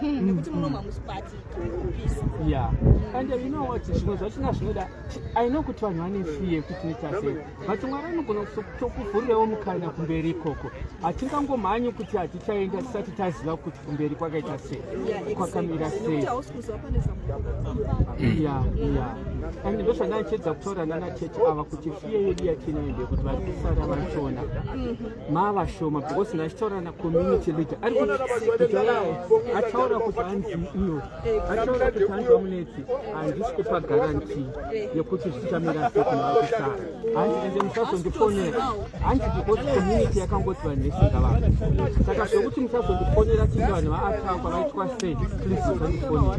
Hmm, nekuti muno mamusikwati ya and you know what zvimwe zvacho na zvinoda i know kuti vanhu vane fear kuti noita sei but mwari anogona kutokuvhurirewo mukana kumberi ikoko hatingangomhanyi kuti hatichaenda tisati taziva kuti kumberi kwakaita sei kwakamira sei ya ya and ndo zvandaichedza kutaura nana chechi ava kuti fear yedu yatinaende kuti vari kusara vachona mm-hmm. mava shoma because ndachitaura na community leader ari ataura kuti hanzi iyo ataura kuti hanzi vamunetsi handisi kupa garanti yekuti zvichamira sekunakusaa hanzi ende musazondifonera hanzi because community yakangoti vanhu vesinga vanhu saka zvekuti musazondifonera tinge vanhu vaatakwa vaitwa sei please musazondifonera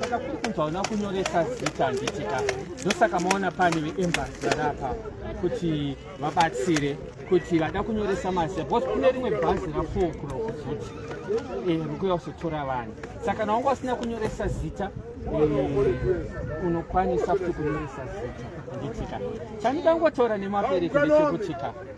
saka kuri kunzi hauna kunyoresa zita handitika ndosaka maona pane veembasi vari apa kuti vabatsire kuti vada kunyoresa mazita because kune rimwe bhazi rafour o'clock futi eh, rikuya kuzotora vanhu saka nawanga usina kunyoresa zita eh, unokwanisa futi kunyoresa zita handitika chandikangotaura nemapereki ndechekutika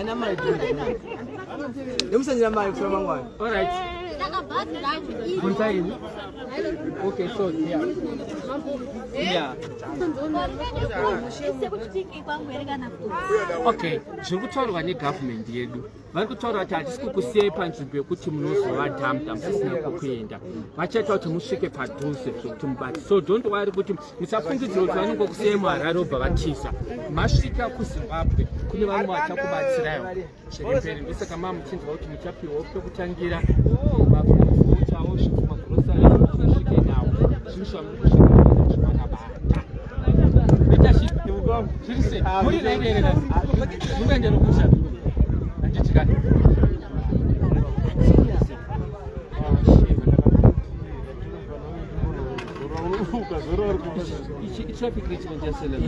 Ana mai. Ndomusanyira mari kusura mangwana. All right. Kuntaini. Okay, so yeah. Yeah. Okay, zviri kutaurwa negovernment yedu vari kutaura kuti hatisi kukusiyai panzvimbo yekuti munozova dhamdha musisina kwekuenda vachaita kuti musvike padhuze zvekuti mubati so don't worry kuti musafungidzira kuti vanenge kusiyai muharare obva vatiza masvika kuzimbabwe kune vamwe vachakubatsirayo chemberi ndosaka maa muchinzwa kuti muchapiwa pekutangira mafuuchawo zvinhu magurosari zvosvike nawo zvinhu zvamuri kusvikaakabata zviri sei muri raireerera mukaendero kusha anditikani traffic richment yaselema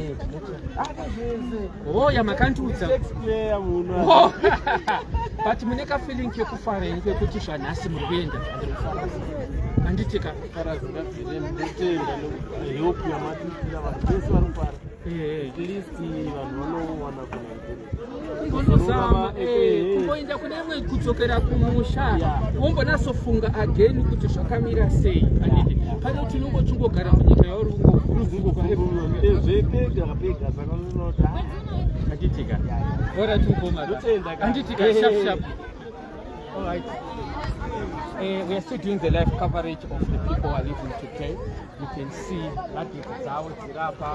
oh yamakandiudza oh, but mune kafeeling kekufara ini kekuti zvanhasi muri kuenda handiti ka eh, eh. at least vanhu vanowana kunaikuru kunozama eh, kungoenda kune imwe kudzokera kumusha wombonasofunga again kuti zvakamira sei pane kuti unongo chingogara munyika yauri ungoanditika ora tiukoma anditika shapshap All right. Uh, we are still doing the live coverage of the people who are living today. You can see that is Zao Zirapa,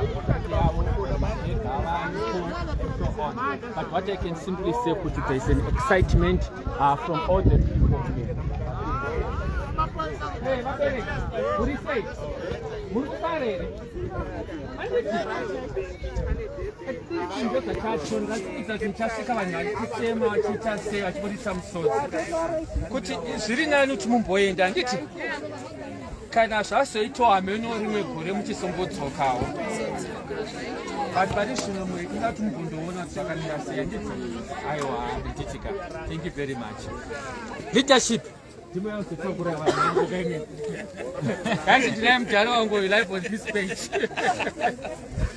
But what I can simply say, Kutu, there is an excitement uh, from all the people here. Hey, Mabere, what do you say? Murukare. kuti zviri nani kuti mumboenda handiti kana zvazoitwa hameno rimwe gore muchisombodzokawo but pane zvino muinga kuti mugondoona zvakamira sei ndidzo aiwa handichitika thank you very much leadership ndimo yazotakura vanhu kaine kanzi ndinaye mudhara wangu live on this page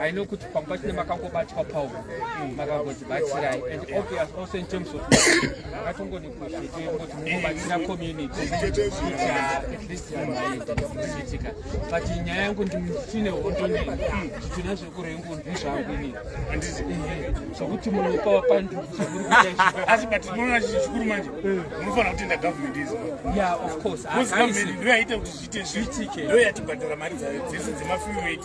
I know kuti pamba tine makangobatwa pawo makangotibatsirai and obvious also in terms of makatongonegotiate kuti mungobatsira community at least maiitika but nyaya yangu nditine hondo nei zvitina zvekurengu ndi zvangu ini zvokuti munopa wapandu asi but tinoona chii chikuru manje munofanira kutenda government izi ya of course ndoyaita kuti zviite zviitike ndoyatibhadhara mari dzayo dzese dzemafew wait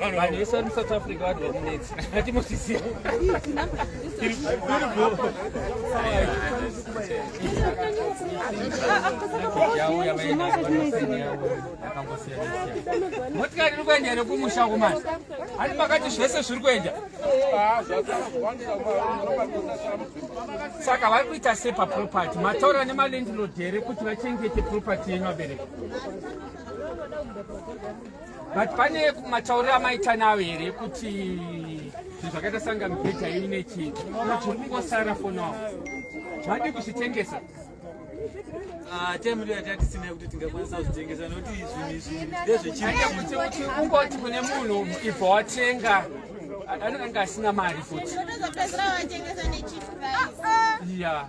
vanhu vese vari musouth africa vari vamunetsi atimosisiya motikari iri kuenda here kumusha kumana ani makati zvese zviri kuenda saka vari kuita sei paproperty mataura nemalendilod here kuti vachengete property yenyu vabereki but pane matauriro amaita nawo here kuti zvinhu zvakaita sanga mibhedha yenyu nechii kuti kungosara for now madi kuzvitengesa Ah, time ndo yatatisina kuti tingakwanisa kuzvitengesa nokuti zvinhu izvi ndezvechikuti ungoti kune munhu ibva watenga anenge asina mari futi ya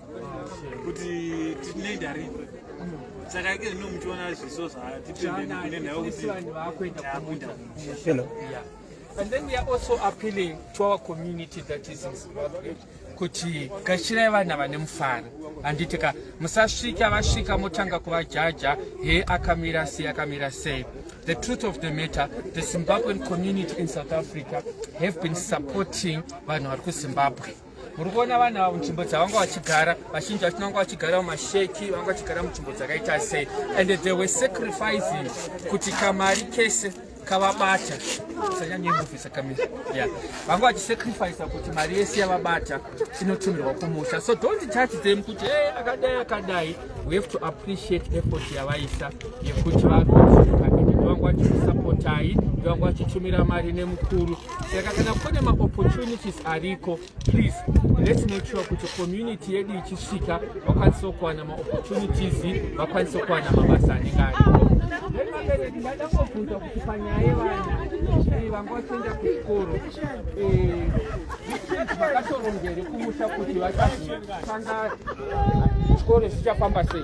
kuti tine ndaripe saka ike zvino muchiona zviso zvatitendenekunenhayokuti And then we are also appealing to our community that is in Zimbabwe kuti gashirai vana vane mufaro handiti ka musasvika vasvika motanga kuvajaja he akamira sei akamira sei the truth of the matter the zimbabwean community in south africa have been supporting vanhu vari kuzimbabwe muri kuona vanhu ava munzvimbo dzavanga vachigara vazhinji vachina vanga vachigara mumasheki vanga vachigara munzvimbo dzakaita sei and they were sacrificing kuti kamari kese kavabata sanyanyemuviisa kamisa ya vanga vachisacrifice kuti mari yese yavabata inotumirwa kumusha so don't judge them kuti e akadai akadai we have to appreciate effort yavaisa yekuti varoaaa vanga vachikusapotai vanga vachitumira mari nemukuru saka kana kune maopportunities ariko please let's make sure kuti community yedu ichisvika vakwanise kuwana maopportunities vakwanise kuwana mabasa anenge ariko vabereki ndada kobvunza kuti panyaya yevana eh, vanga vachienda kuchikoro eh, vakatorongere kumusha kuti vachazotanga chikoro zvichafamba sei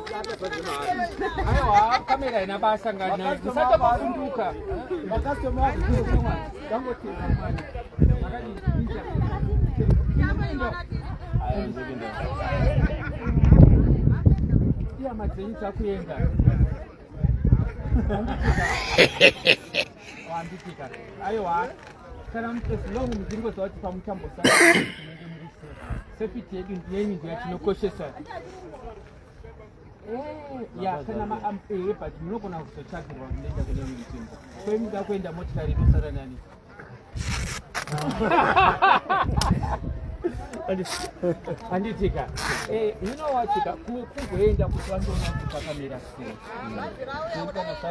Aiwa, kamera haina basa ngani. Musata kufunduka. Makastoma wako kufunduka. Dango tiri mwana. Makadi kufunduka. Ayo ndokinda. Iya madzenyi takuenda. Wambikika. Aiwa. Kana mutesi long mudzingo zawati pamutambo sasa. Safety yedu ndiyenyi ndiyo tinokoshesa. Eh, ya kana maampere but munogona kuzotsvagirwa munoenda kune imwe nzvimbo kwemuda kuenda motikari inosara nani handitika eh, inowatika kumwe kungoenda kuti vandoona kuti pakamira sei